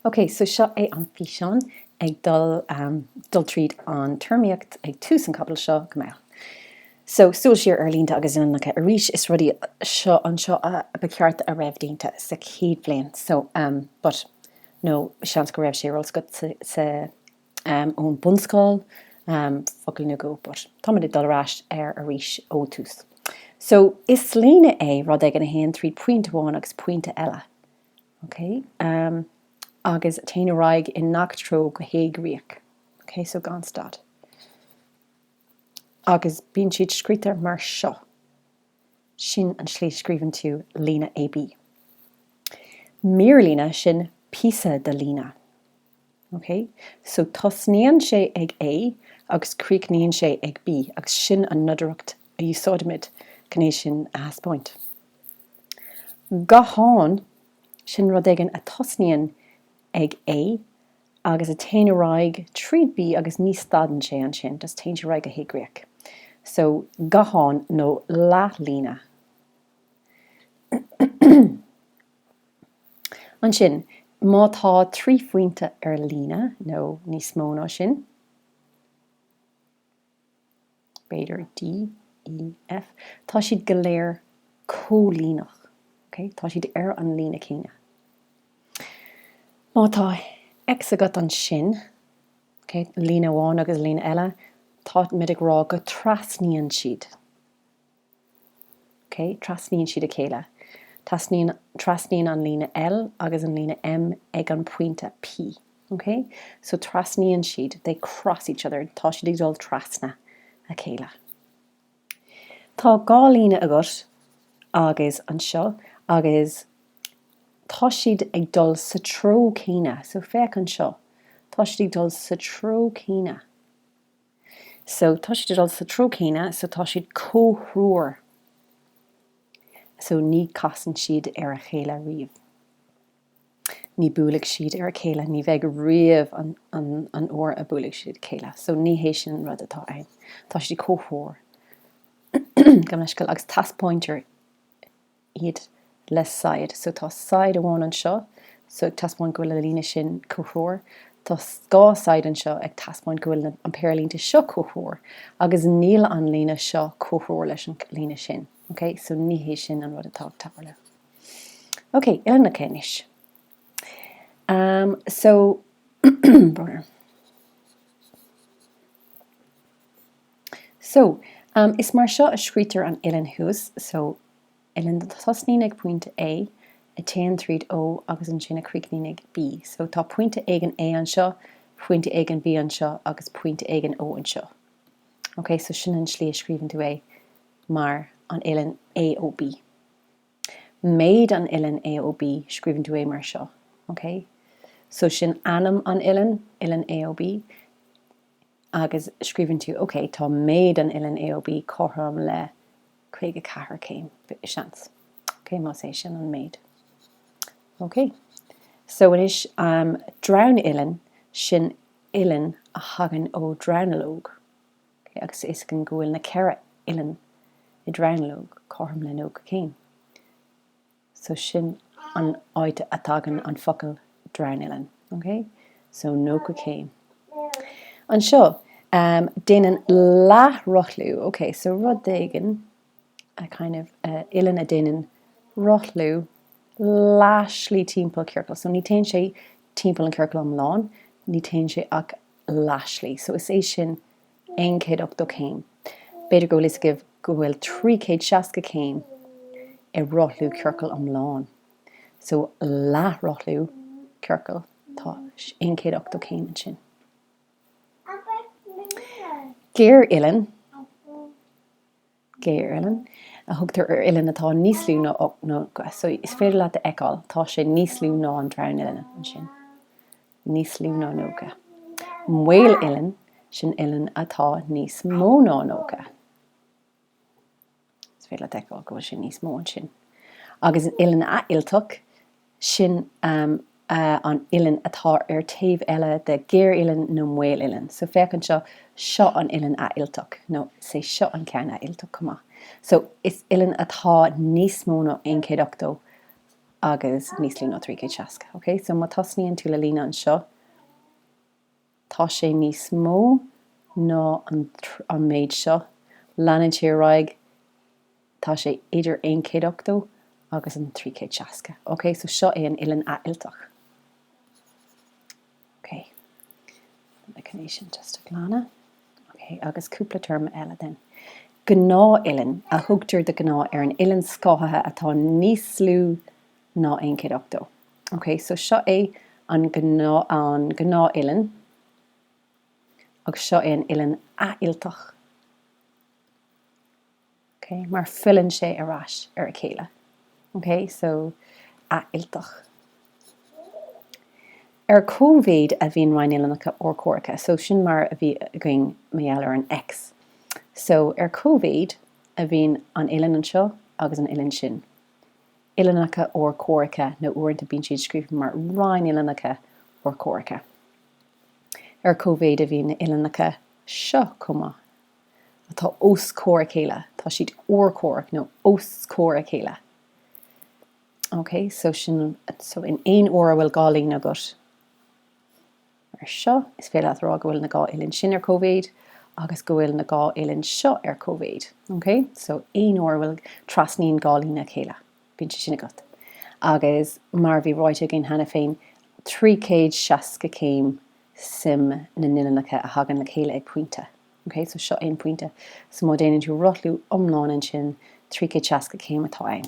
Ok, so seo é an físeán ag dul dul tríd an téarmaíocht ag tús an chaibidil seo go mbeadh. So, súil siar ar línte agus uillinneacha arís, is rudaí seo anseo a ba cheart a raibh déanta sa chéad bhliain, so but nó seans go raibh sé ar eolas agatsa ón bunscoil focail nó go but tá muid ag dul ar ais ar arís ó tús. So, is líne é rud éigin a théann tríd pointe amháin agus pointe eile. OK, agus téann ar aghaidh i ngach treo go héigríoch. OK, so gan stad. Agus bíonn siad scríte mar seo. Sin an slí scríobhann tú líne AB. Mírlíne, sin píosa de líne. OK, so tosnaíonn sé ag A agus críochnaíonn sé ag B agus sin an nodaireacht a úsáidimid chun é sin a thaispeáint. Gathán, sin rud éigin a tosnaíonn ag A agus a téann ar aghaidh tríd B agus ní stadann sé ansin, just téann sé ar aghaidh go héigríoch. So, gathán nó leathlíne. Ansin, má tá trí phointe ar líne, nó níos mó ná sin, b'fhéidir D, E, F, tá siad go léir comhlíneach, ok? Tá siad ar an líne céanna. Má tá X agat ansin, ok, líne amháin agus líne eile, táimid ag rá go dtrasnaíonn siad. Ok, trasnaíonn siad a chéile. Trasnaíonn an líne L agus an líne M ag an pointe P. Ok? So trasnaíonn siad, they cross each other, tá siad ag dul trasna a chéile. Tá dhá líne agat agus anseo agus tá siad ag dul sa treo céanna. So féach anseo, tá siad ag dul sa treo céanna. So tá siad ag dul sa treo céanna, so tá siad comhthreomhar, so ní casann siad ar a chéile riamh. Ní buailfidh siad ar a chéile, ní bheidh riamh an uair a buailfidh siad a chéile, so ní hé sin an rud atá ann. Tá siad comhthreomhar, gabh mo leithscéal, agus teaspáintear iad le saighead. So tá saighead amháin anseo, so ag taispeáint go bhfuil an líne sin comhthreomhar. Tá dhá saighead anseo ag taispeáint go bhfuil an péire línte seo comhthreomhar, agus níl an líne seo comhthreomhar leis an líne sin. Ok, so ní hé sin an rud atá ag tarlú. Ok, uillinneacha anois. Um, so. So, um, is mar seo a scríobhtar an uillinn thuas, so, uillinn a thosnaíonn ag pointe A, a téann tríd O agus ansin a chríochnaíonn ag B. So, tá pointe éigin A anseo, pointe éigin B anseo agus pointe éigin O anseo. Ok, so sin an slí a scríobhann tú é, mar an uillinn AOB. Méid an uillinn AOB, scríobhann tú é mar seo, ok? So sin ainm an uillinn, uillinn AOB. agus scríobhann tú, OK, tá méid an uillinn AOB cothrom le 54 céim, seans, ok, más é sin an méid. Ok. So anois, um, dronuillinn, sin uillinn a thagann ó dhronuilleog, ok, agus toisc go bhfuil na ceithre uillinn i dronuilleog cothrom le 90 céim. So sin an áit a dtagann an focal dronuillinn. Ok? So nócha céim. Anseo, um, déanann leath-rothlú, ok, so rud éigin, kind of, uillinn a déanann rothlú leath-slí timpeall ciorcal. So ní téann sé timpeall an ciorcal iomlán, ní téann sé ach leath-slí. So is é sin aon chéad ochtó céim. B'fhéidir go bhfuil fhios agaibh go bhfuil trí chéad seasca céim i rothlú ciorcail iomlán. So, leathrothlú ciorcail, tá aon chéad ochtó céim ansin. Géaruillinn. Géaruillinn a thugtar ar uillinn atá níos lú ná nócha, so is féidir leat a fheiceáil, tá sé níos lú ná an dronuillinn ansin, níos lú ná nócha. Maoluillinn, sin uillinn atá níos mó ná nócha, is féidir leat a fheiceáil go bhfuil sé níos mó ansin, agus an uillinn athfhillteach, Sin an uillinn atá ar taobh eile de géaruillinn nó maoluillinn. So, féach anseo, seo an uillinn athfhillteach, nó is é seo an ceann athfhillteach chomh maith. So, is uillinn atá níos mó ná aon chéad ochtó agus níos lú ná trí chéad seasca. Okay? So, má thosnaíonn tú le líne anseo, Tá sé níos mó ná an méid seo, leanann sé ar aghaidh, tá sé idir 180 agus an 360. Ok, so seo é an uillinn athfhillteach. Ok, lig dom é sin just a ghlanadh. Ok, agus cúpla téarma eile then. Gnáthuillinn a thugtar de ghnáth ar an uillinn scáthaithe atá níos lú ná aon chéad ochtó. Ok, so seo é an gnáthuillinn agus seo é an uillinn athfhillteach, ok, mar filleann sé ar ais ar a chéile, ok, so athfhillteach. Ar cóimhéid a bhíonn rinnuillinneacha urchomhaireacha, so sin mar a bhí againn mar gheall ar an X, so ar cóimhéid a bhíonn an uillinn anseo agus an uillinn sin. uillinneacha urchomhaireacha, nó uaireanta bíonn siad scríofa mar rinnuillinneacha urchomhaireacha. Ar cóimhéid a bhíonn na uillinneacha seo chomh maith, atá os comhair a chéile, tá siad urchomhaireach nó os comhair a chéile. OK, so sin, so in aon uair a bhfuil dhá líne agat, Mar seo, is féidir leat a rá go bhfuil na dhá uillinn sin ar cóimhéid agus go bhfuil na dhá uillinn seo ar cóimhéid. OK? So, aon uair a bhfuil, trasnaíonn dhá líne a chéile, bíonn sé sin agat. Agus mar a bhí ráite againn cheana féin, trí chéad seasca céim suim na n-uillinneacha a thagann le chéile ag pointe. OK? So, seo é an pointe. So, má déanann tú rothlú iomlán ansin, trí chéad seasca céim atá ann.